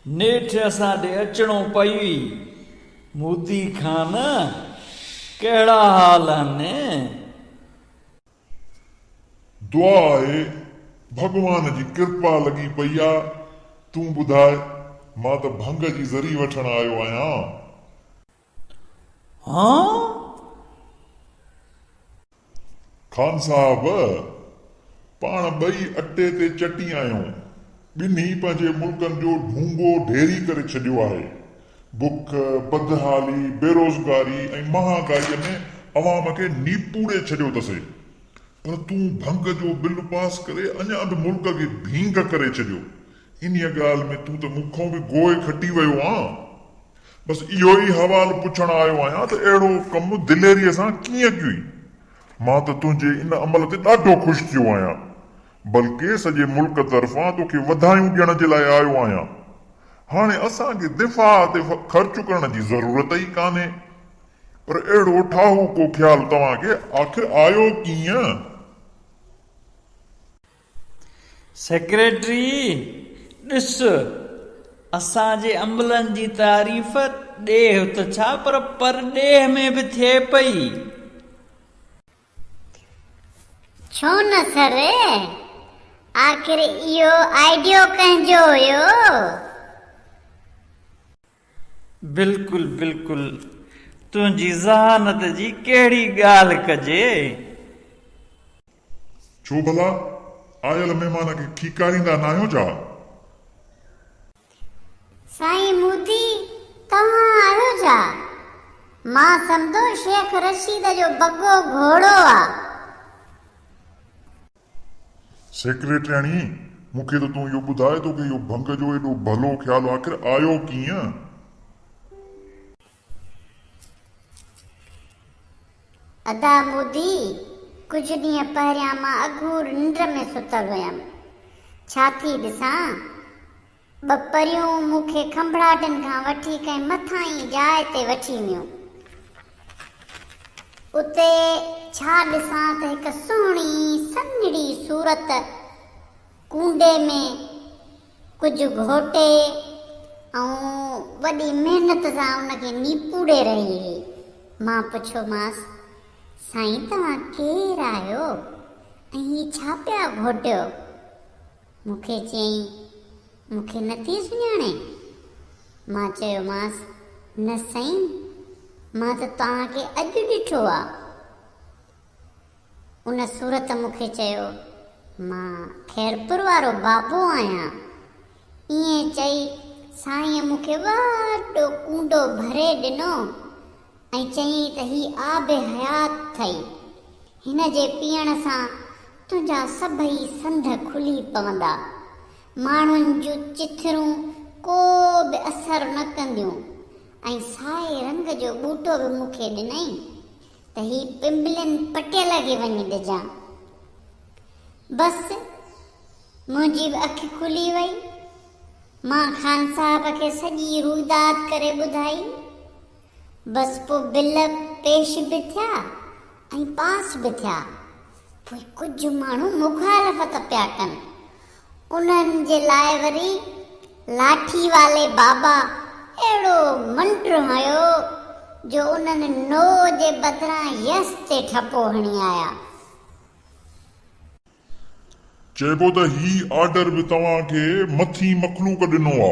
نيٺ اسان ڏي اچڻو پئي. موتي خان، ڪهڙا حال هن؟ دعا آهي، ڀڳوان جي ڪرپا لڳي پئي آ. تون ٻڌاء، مان ته ڀنگ جي ذري وٺڻ آيو آهيان. خان صاحب، پاڻ ٻئي اٽي تي چٽي آهيون. ٻنهي پنهنجي ملڪن جو ڍونگو ڍيري ڪري ڇڏيو آهي. بک، بدحالي، بيروزگاري ۽ مهانگائيء ۾ عوام کي نيپوڙي ڇڏيو اٿسي. پر تون ڀنگ جو بل پاس ڪري اڃا به ملڪ کي ڀينگ ڪري ڇڏيو. انهيء ڳالهه ۾ تون ته مون کان به گوء کٽي ويو آن. بس اهو ئي حوال پڇڻ آيو آهيان ته اهڙو ڪم دليريء سان ڪيئن ڪيوئي؟ مان ته تنهنجي ان عمل تي ڏاڍو خوش ٿيو آهيان، بلڪه سڄي ملڪ طرفان توکي وڌايون ڏيڻ جي لاء آيو آهيان. هاڻي اسان کي دفاع تي خرچ ڪرڻ جي ضرورت ئي ڪانهي. پر اهڙو ٺاهوڪو خيال توهان کي آخر آيو ڪيئن؟ سيڪريٽري، ڏس، اسان جي عملن جي تعريف ڏيهه ته ڇا پر پرڏيهه ۾ به ٿئي پئي. ڇو نه سر، آخر اهو آئيڊيو ڪنهن جو هيو؟ بلڪل بلڪل تنهنجي ذهانت جي ڪهڙي ڳالهه ڪجي. ڇو ڀلا آيل مهمان کي کيڪاريندا ناهيو ڇا؟ سائين مودي توهان آهيو ڇا؟ مان سمجهو شيخ رشيد جو بگو گهوڙو آ. سيڪريٽرياڻي، مون کي ته تون اهو ٻڌاء توکي اهو ڀنگ جو ايڏو ڀلو خيال آخر آيو ڪيئن؟ ادا مودي، ڪجهه ڏينهن پهريان مان اگهور ننڊ ۾ ستل هيم. ڇا ٿي ڏسان؟ ٻه پريون مون کي کنڀڙاٽن کان وٺي ڪنهن مٿاهين جاء تي وٺي ويون. اتي ڇا ڏسان ته هڪ سهڻي سنهڙي صورت ڪونڊي ۾ ڪجهه گهوٽي ۽ وڏي محنت سان ان کي نيپوڙي رهي هئي. مان پڇيومانس، سائين توهان ڪير آهيو ۽ هي ڇا پيا گهوٽيو؟ مون کي چيائين، مون کي نه ٿي سڃاڻي؟ مان چيومانس، نه سائين، مان ته توهان کي اڄ ڏٺو آ. ان صورت مون کي چيو، مان خيرپور وارو بابو آهيان. ائين چئي سائينء مون کي وڏو ڪونڊو ڀري ڏنو. ۽ چيائين ته هي آب حيات ٿئي، هن جي پيئڻ سان تنهنجا سڀئي سنڌ کلي پوندا، ماڻهن جون چٿرون ڪو به اثر نه ڪنديون ۽ سائي رنگ جو ٻوٽو به مون کي ڏنائين ته هي پنبلين پٽيل کي وڃي ڏجان. بس منهنجي به اک کلي وئي، مان خان صاحب کي سڄي روئداد ڪري ٻڌائي. بس پوء بل پيش به ٿيا ۽ پاس به ٿيا. پوء ڪجهه ماڻهو مخالفت پيا ڪن. انهن جي لاء وري لاٺي والي بابا اهڙو منڊ هنيو جو انهن نو جي بدران يس تي ٺپو هڻي آيا. چئبو ته هي آرڊر به توهان کي مٿين مخلوق ڏنو آ.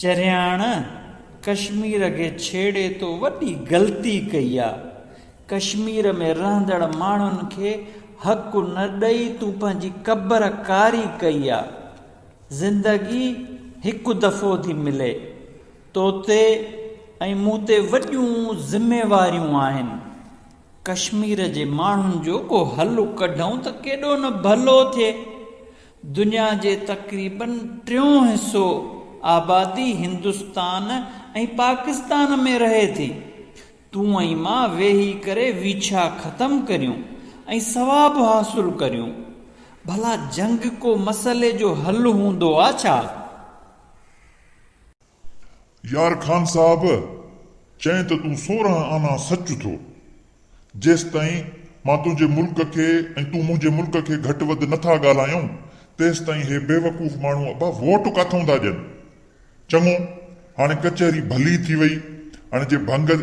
چرياڻ ڪشمير کي ڇيڙي تو وڏي غلطي ڪئي آ ڪشمير ۾ رهندڙ ماڻهن کي حق نه ڏئي تون پنهنجي ڪبر ڪاري ڪئي آ زندگي هڪ دفعو ٿي ملي تو تي ۽ مون تي وڏيون ذميواريون آهن ڪشمير جي ماڻهن جو ڪو حل ڪڍون ته ڪيڏو نه ڀلو ٿئي دنيا جي تقريباً ٽيون حصو آبادي هندستان ۽ پاڪستان ۾ رهي ٿي. تون ۽ مان ويهي ڪري ويڇا ختم ڪريون ۽ ثواب حاصل ڪريون. ڀلا جنگ ڪو مسئلي جو حل هوندو آ ڇا؟ يار خان صاحب چئين ته تون سورهن آنا سچ ٿو. جيستائين مان تنهنجي ملڪ کي ۽ تون منهنجي ملڪ کي گهٽ وڌ نه ٿا ڳالهايون تيستائين هي بيوقوف ماڻهو ابا ووٽ ڪاٿئون ٿا ڏين. چڱو هاڻي ڪچهري ڀلي ٿي وئي هاڻي جي ڀنگ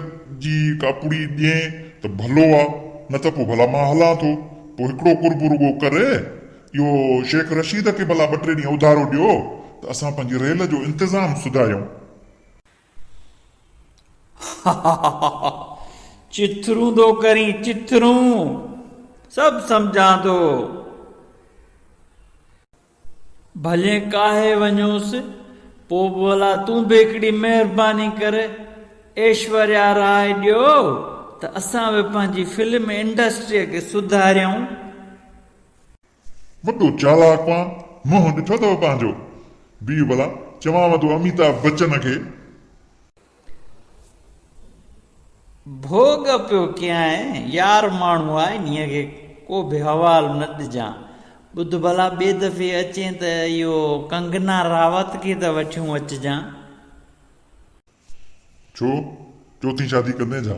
جي ڪا پڙي ڏئين ته ڀلو آ نه ته پوء ڀلا مان هلان ٿو پوء هڪڙو قرب رڳو ڪر اهو شيخ رشيد کي ڀلا ٻه ٽي ڏينهن اڌارو ڏيو ته اسان پنهنجي ريل جو انتظام سڌايون. هاهاها چٿرون ٿو ڪرين چٿرون سڀ سمجهان ٿو. ڀلي ڪاهي وڃوس پوء به ڀلا تون به هڪڙي مهرباني ڪر ايشوريا راء ڏيو ته اسان به پنهنجي فلم انڊسٽريء کي سڌاريون. وڏو چالاڪ مان منهن ڏٺو اٿو پنهنجو. بيهه ڀلا چوانء ٿو اميتاڀ بچن کي. ڀوڳ پيو ڪيانء يار ماڻهو آ انهيء کي ڪو به حوال نه ڏجان. ٻڌ ڀلا ٻئي دفعي اچين ته اهو ڪنگنا راوت کي ته وٺيون اچجان. ڇو چوٿين شادي ڪندين ڇا؟